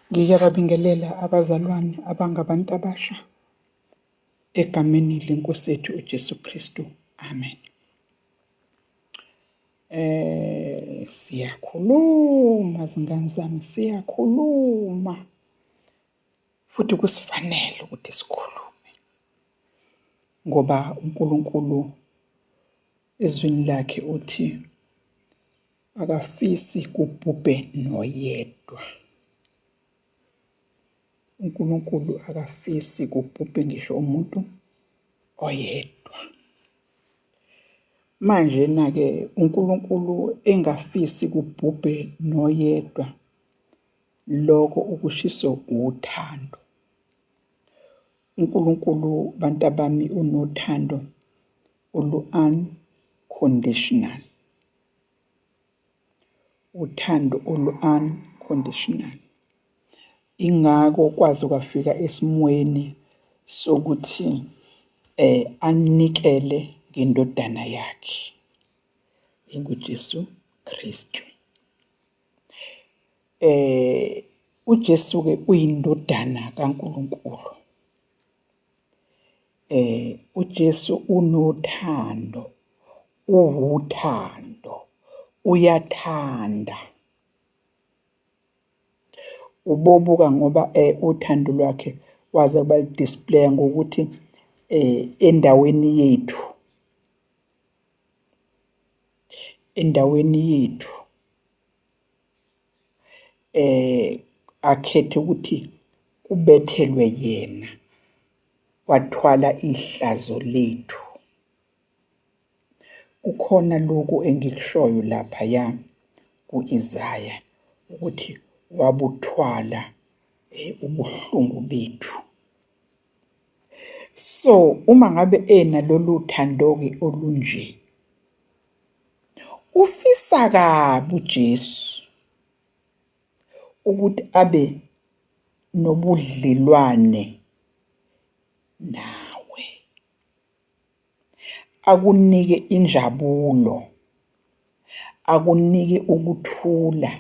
Ngiyababingelela abazalwane abangabantu abasha egameni lenkosi yethu uJesu Kristu. Amen. Eh siyakhuluma zingane zami siyakhuluma futhi kusifanele ukuthi sikhulume ngoba uNkulunkulu ezwini lakhe uthi Akafisi kubhubhe noyedwa. UNkulunkulu akafisi kubhubhe ngisho umuntu oyedwa. Manje na-ke uNkulunkulu engafisi kubhubhe noyedwa, lokho ukushiso uthando. UNkulunkulu bantabami unothando olu-unconditional. Uthando olu-unconditional. Ingakho kwaze kwafika esimweni sokuthi eh anikele ngendodana yakhe enguJesu Kristu. Eh uJesu ke uyindodana kaNkuluNkulu. Eh uJesu unothando Uwuthando. Uyathanda. Ubobuka ngoba eh, uthando lwakhe waze kuba display ngokuthi eh endaweni yethu endaweni yethu eh akhethe ukuthi kubethelwe yena wathwala ihlazo lethu Kukhona lokhu engikushoyo laphaya ku-Isaya ukuthi wabuthwala eh, ubuhlungu bethu. So uma ngabe ena lolu thando-ke olunje ufisa kabi uJesu ukuthi abe nobudlelwane nawe. akunike injabulo akunike ukuthula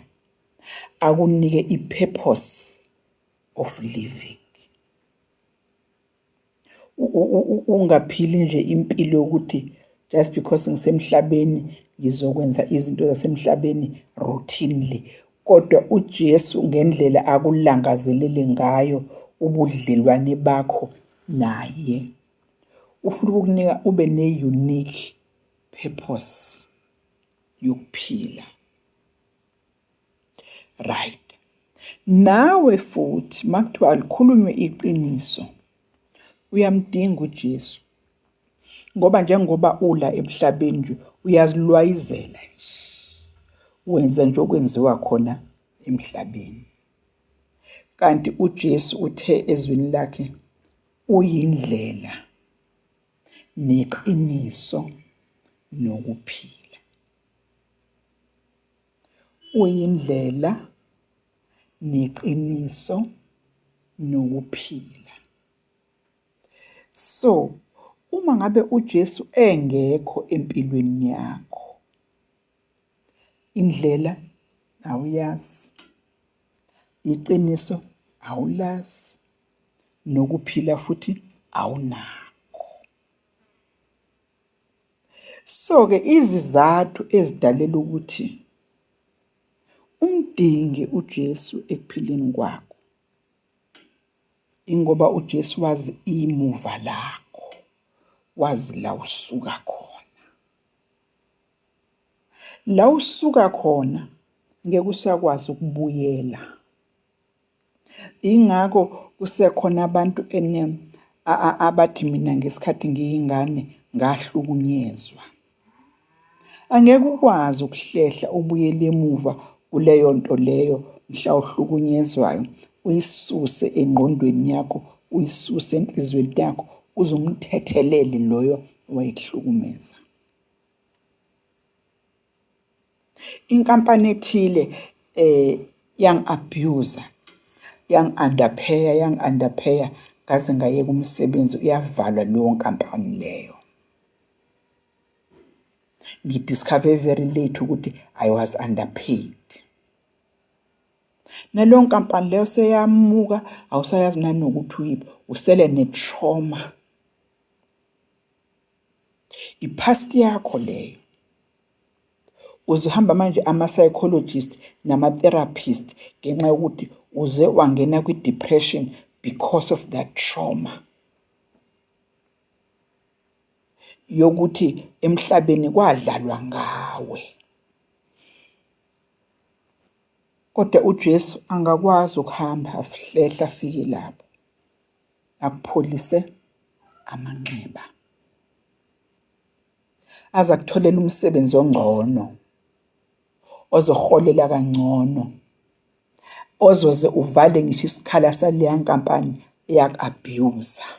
akunike i-purpose of living ungaphili nje impilo yokuthi just because ngisemhlabeni ngizokwenza izinto zasemhlabeni routinely kodwa uJesu ngendlela akulangazelele ngayo ubudlelwane bakho naye ufuna ukukunika ube ne-unique purpose yokuphila right nawe futhi makuthiwa alikhulunywe iqiniso uyamdinga uJesu ngoba njengoba ula emhlabeni nje uyazilwayizela wenza nje okwenziwa khona emhlabeni kanti uJesu uthe ezwini lakhe Uyindlela neqiniso nokuphila. Uyindlela neqiniso nokuphila. So uma ngabe uJesu engekho empilweni yakho indlela awuyazi iqiniso awulazi nokuphila futhi awunakho so ke izizathu ezidalela ukuthi umdinge uJesu ekuphileni kwakho ingoba uJesu wazi imuva lakho wazi la usuka khona la usuka khona ngeke usakwazi ukubuyela Ingakho kusekhona abantu enem abathi mina ngesikhathi ngiyingane ngahlukunyezwa. Angeke ukwazi ukuhlehla ubuyele emuva kuleyo nto leyo mhla uhlukunyezwayo uyisuse engqondweni yakho uyisuse enhlizweni yakho uze umthethelele loyo owayekuhlukumeza. inkampani ethile eh yang abuser yang underpayer yang underpayer ngaze ngayeka umsebenzi uyavalwa leyo nkampani leyo ngidiscover very late ukuthi i was underpaid naleyo nkampani leyo seyamuka awusayazi nanokuthi uyiphi usele ne-trauma Ipast yakho leyo. Uzohamba manje ama psychologist nama therapist ngenxa yokuthi uze wangena kwi depression because of that trauma. yokuthi emhlabeni kwadlalwa ngawe kodwa uJesu angakwazi ukuhamba ahlehla afike lapho akupholise amanxeba aze akutholela umsebenzi ongcono ozoholela kangcono ozoze uvale ngisho isikhala saleya nkampani eyaku-abuser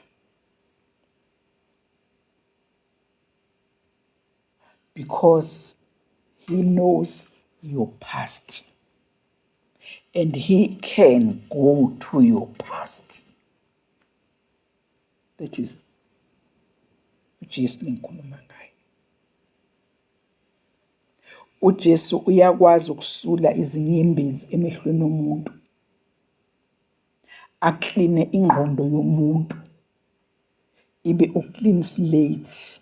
because he knows your past and he can go to your past that is uJesu lengikhuluma ngaye uJesu uyakwazi ukusula izinyembezi emehlweni omuntu akline ingqondo yomuntu ibe uclean slate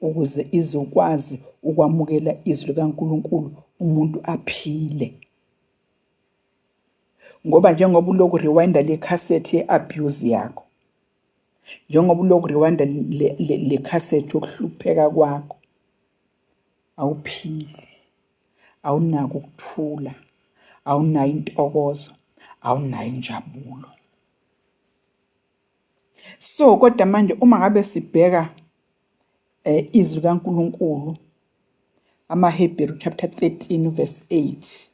ukuze izokwazi ukwamukela izwi likaNkulunkulu umuntu aphile ngoba njengoba uloku rewinda le cassette ye abuse yakho njengoba uloku rewinda le, le, le cassette yokuhlupheka kwakho awuphili awunako ukuthula awunayo intokozo awunayo injabulo so kodwa manje uma ngabe sibheka eh izwi kaNkuluNkulu amaHebheru chapter 13 verse 8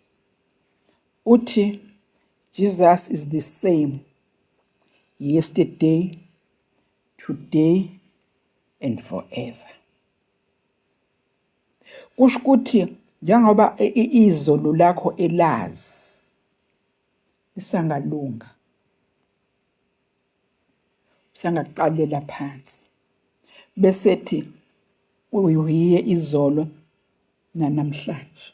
uthi Jesus is the same yesterday today and forever kusho ukuthi njengoba izolo lakho elazi lisangalunga sangaqalela phansi bese thi uyiye izolo nanamhlanje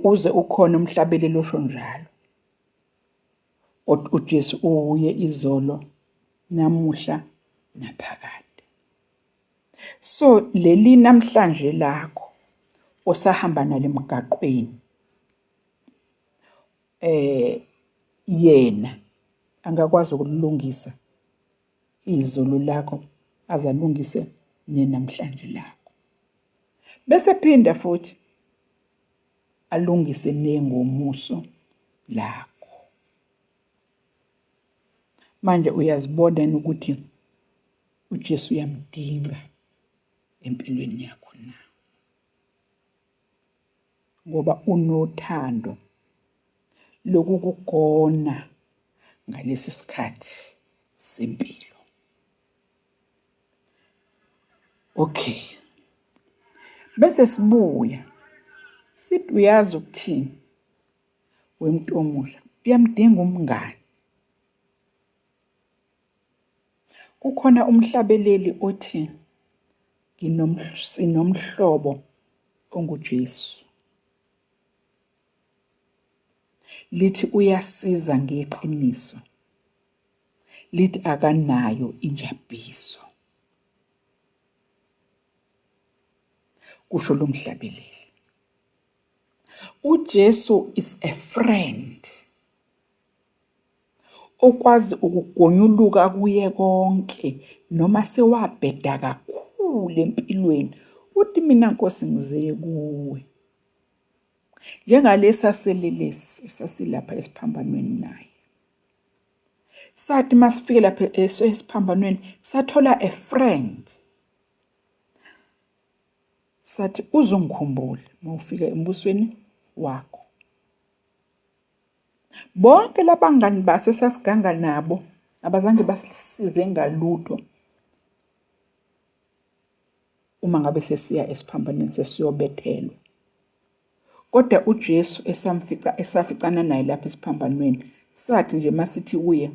uze ukhona umhlabeli losho njalo uJesu uye izolo namuhla naphakade so leli namhlanje lakho osahamba nalemgaqweni eh yena angakwazi ukulungisa izulu lakho azalungise nenamhlanje lakho bese phinda futhi alungise nengomuso lakho manje uyazibona ukuthi uJesu uyamdinga empilweni yakho ngoba unothando lokukugona ngalesi sikhathi sempilo. Okay. Bese sibuya. Sithi uyazi ukuthini? Wemtomula, uyamdinga umngani. Kukhona umhlabeleli othi sinomhlobo onguJesu. Lithi uyasiza ngeqiniso. Lithi akanayo injabiso. Kusho lomhlabeleli. UJesu is a friend. Okwazi ukugonyuluka akuye konke noma sewabheda kakhulu empilweni uthi mina Nkosi ngizeye kuwe. Njengalesi aselelesi esasilapha esiphambanweni naye. Sathi masifike lapha esiphambanweni sathola a friend. Sathi uzongikhumbula mawufika embusweni wakho. Bonke labangani baso sasiganga nabo abazange basisize ngalutho uma ngabe sesiya esiphambanweni sesiyobethelwa. Kodwa uJesu esamfica esaficana naye lapha esiphambanweni sathi nje masithi kuye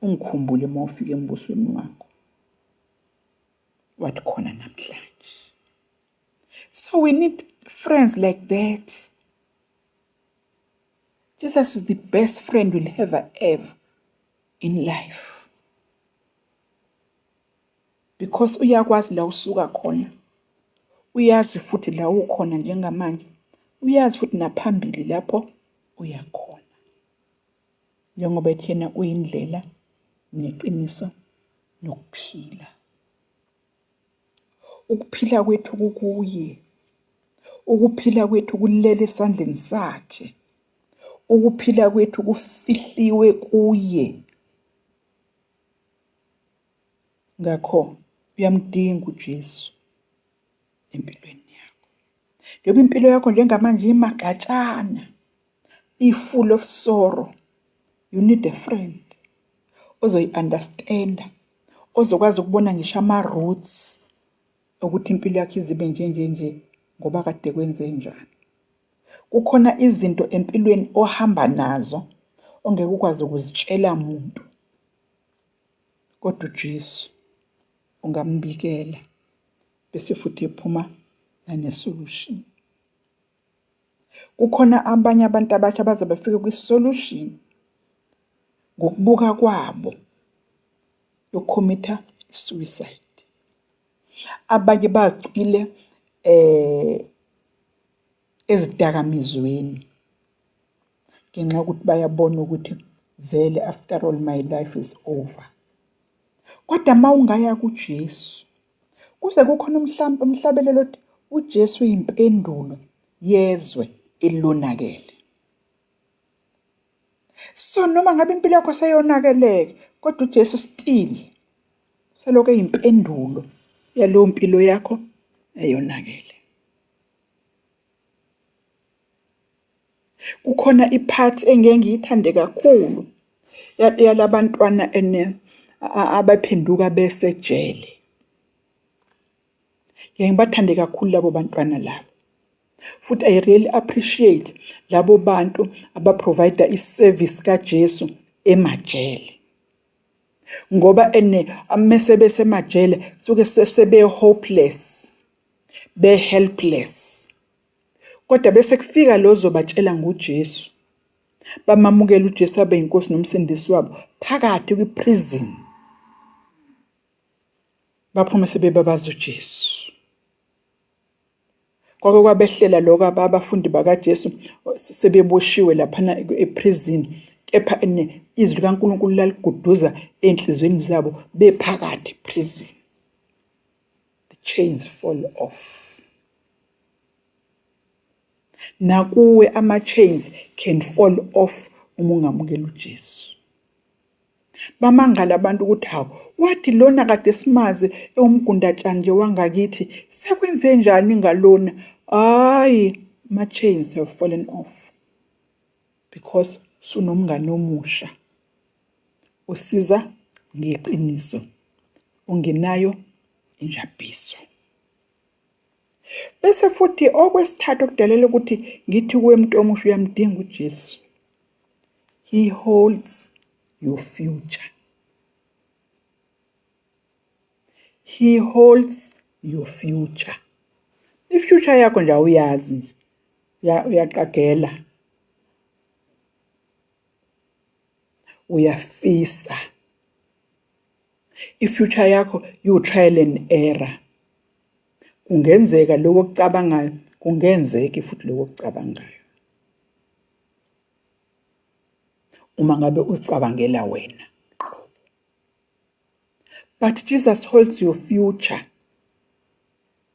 ungikhumbule uma ufika embusweni wakho. Wathi khona namhlanje. So we need friends like that. Jesus is the best friend we'll ever have in life because uyakwazi la usuka khona uyazi futhi la ukhona njengamanje uyazi futhi naphambili lapho uyakhona njengoba ethena uyindlela neqiniso nokuphila Ukuphila kwethu kukuye. Ukuphila kwethu kulele esandleni sakhe. Ukuphila kwethu kufihliwe kuye. Ngakho uyamdinga uJesu empilweni yakho. Njengoba impilo yakho njengamanje imagxatshana i-full of sorrow you need a friend ozoyi-understanda ozokwazi ukubona ngisho ama-roots ukuthi impilo yakhe izibe nje nje nje ngoba kade kwenze njani kukhona izinto empilweni ohamba nazo ongeke ukwazi ukuzitshela muntu kodwa uJesu ungambikela bese futhi ephuma nane solution kukhona abanye abantu abasha baze bafike kwi-solution ngokubuka kwabo yokhomitha suicide abanye bacwile eh ezidakamizweni ngenxa yokuthi bayabona ukuthi vele after all my life is over Kodwa uma ungaya kuJesu, kuze kukhona umhlawumbe umhlabelelo othi uJesu uyimpendulo yezwe elonakele. So noma ngabe impilo yakho seyonakeleke, kodwa uJesu still selokhu eyimpendulo yalowo mpilo yakho eyonakele. kukhona iphathi engeke ngiyithande kakhulu yalabantwana ene abaphenduka besejele ngeke ngibathande kakhulu labo bantwana labo futhi i really appreciate labo bantu abaprovide iservice kaJesu emajele ngoba ene amese besemajele suke sebe hopeless be helpless kodwa bese kufika lozo batshela ngoJesu bamamukela uJesu abe inkosi nomsindisi wabo phakathi kwiprison baphume sebebabaza uJesu kwake kwabehlela lokho abafundi bakaJesu sebeboshiwe laphana eprison kepha izwi likaNkulunkulu laliguduza enhlizweni zabo bephakathi prison the chains fall off nakuwe ama chains can fall off uma ungamukela uJesu bamangala abantu ukuthi hawu wathi lona kade simazi ewumgundatshani nje wangakithi sekwenze njani ngalona hayi ama chains have fallen off because sunomngane omusha usiza ngeqiniso ungenayo injabhiso bese futhi okwesithathu okudalela ukuthi ngithi kuwe muntu omusha uyamdinga uJesu he holds your future he holds your future ifuture yakho nje awuyazi uyaqagela uyafisa ifuture yakho you trial and error kungenzeka lokho okucabangayo kungenzeki futhi lokho okucabangayo uma ngabe uzicabangela wena but Jesus holds your future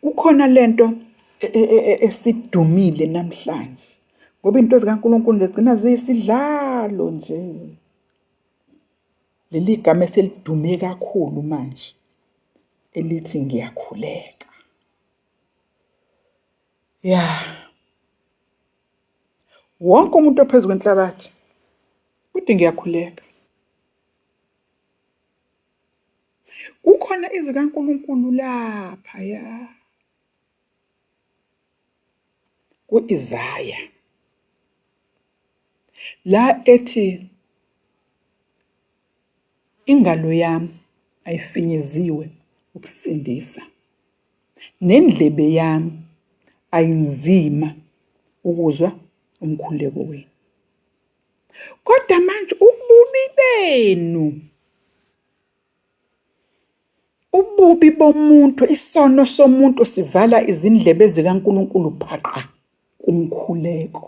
Kukhona lento e, e, e, esidumile namhlanje ngoba into zikaNkulunkulu legcina ziyisidlalo nje. Leli gama eselidume kakhulu manje elithi ngiyakhuleka. Ya. Wonke umuntu ophezu kwenhlabathi uthi ngiyakhuleka. Kukhona izwi kaNkulunkulu lapha ya. Ku-Isaya la ethi ingalo yami ayifinyeziwe ukusindisa nendlebe yami ayinzima ukuzwa umkhuleko wenu kodwa manje ububi benu Ububi bomuntu, isono somuntu sivala izindlebe zikaNkulunkulu phaqa kumkhuleko.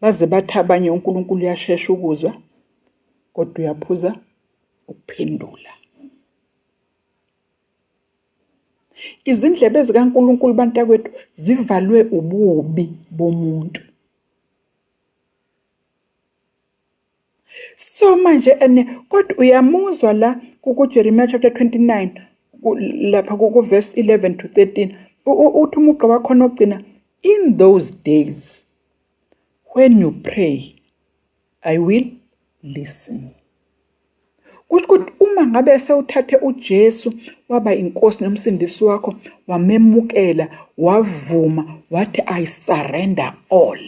Baze bathi abanye uNkulunkulu uyashesha ukuzwa kodwa uyaphuza ukuphendula. Izindlebe zikaNkulunkulu bantakwethu zivalwe ububi bomuntu. so manje ene kodwa uyamuzwa la kuJeremiya chapter 29 lapha kuverse 11 to 13 uthi umugqa wakhona ogcina in those days when you pray i will listen kusho ukuthi uma ngabe sewuthathe uJesu waba inkosi nomsindisi wakho wamemukela wavuma wathi i surrender all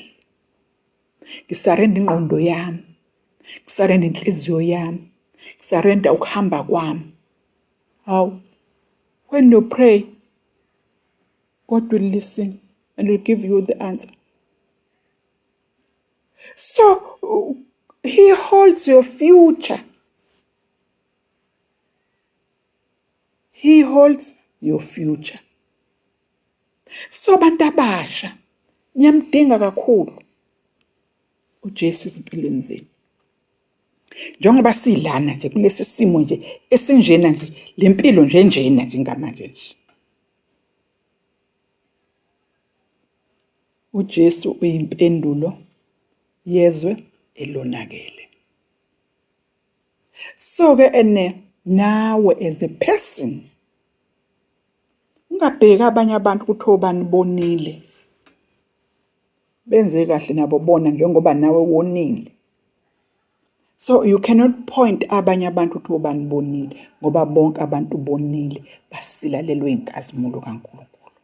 ngisarenda ingqondo yami ngisarenda inhliziyo yami ngisarenda ukuhamba kwami hawu when you pray god will listen and will give you the answer so he holds your future He holds your future. So abantu abasha niyamdinga kakhulu uJesu izimpilweni zenu. Njengoba silana nje kulesi simo nje esinjena nje lempilo nje njena nje ngamanje nje. uJesu uyimpendulo yezwe elonakele. so ke ene nawe as a person ungabheki abanye abantu ukuthi obani bonile benze kahle nabo bona njengoba nawe wonile so you cannot point abanye abantu ukuthi obani bonile ngoba bonke abantu bonile basilalelwe inkazimulo kaNkuluNkulu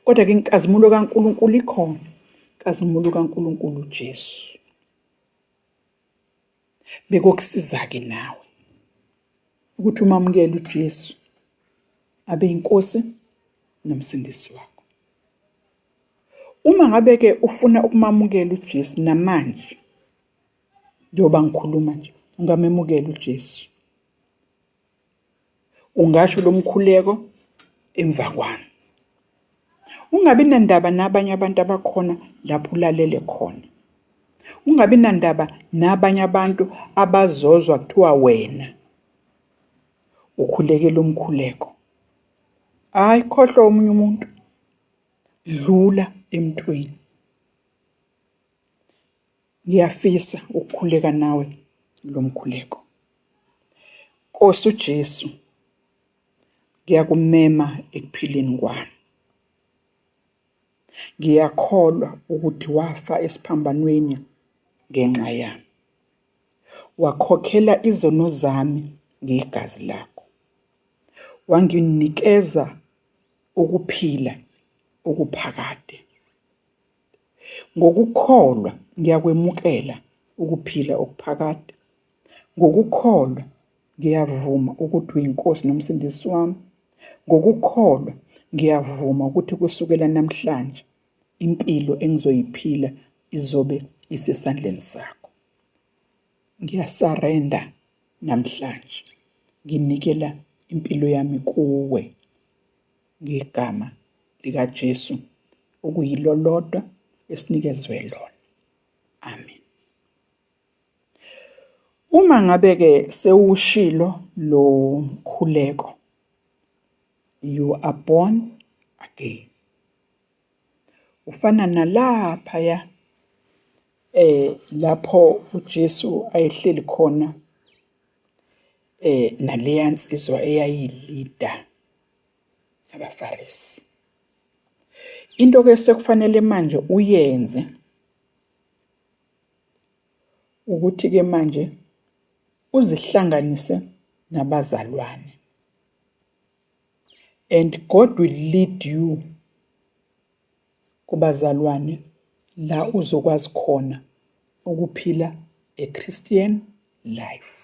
kodwa ke inkazimulo kaNkuluNkulu ikhona inkazimulo kaNkuluNkulu uJesu bekokusiza-ke nawe ukuthi umamukele uJesu abe inkosi nomsindisi wakho uma ngabe ke ufuna ukumamukela uJesu namanje njengoba ngikhuluma nje ungamemukela uJesu Ungasho lo mkhuleko emva kwami. Ungabi nandaba nabanye abantu abakhona lapho ulalele khona. Ungabi nandaba nabanye abantu abazozwa kuthiwa wena ukhulekela umkhuleko. Hayi khohlwa omunye umuntu. Dlula emntwini. Ngiyafisa ukukhuleka nawe lo mkhuleko. Nkosi uJesu, ngiyakumema ekuphileni kwami. Ngiyakholwa ukuthi wafa esiphambanweni ngenxa yami. Wakhokhela izono zami ngegazi lakho. Wanginikeza ukuphila okuphakade. Ngokukholwa ngiyakwemukela ukuphila okuphakade. Ngokukholwa ngiyavuma ukuthi uyiNkosi nomsindisi wami. Ngokukholwa ngiyavuma ukuthi kusukela namhlanje impilo engizoyiphila izobe isesandleni sakho. Ngiyasarenda namhlanje. Nginikela impilo yami kuwe. ngegama likaJesu okuyilolodwa esinikezwe lona. Amen. Uma ngabe ke sewushilo lo mkhuleko you are born again. Ufana nalapha ya eh lapho uJesu ayehleli khona eh naleya nsizwa eyayilida abafarisi into ke sekufanele manje uyenze ukuthi ke manje uzihlanganise nabazalwane and God will lead you kubazalwane la uzokwazi khona ukuphila a Christian life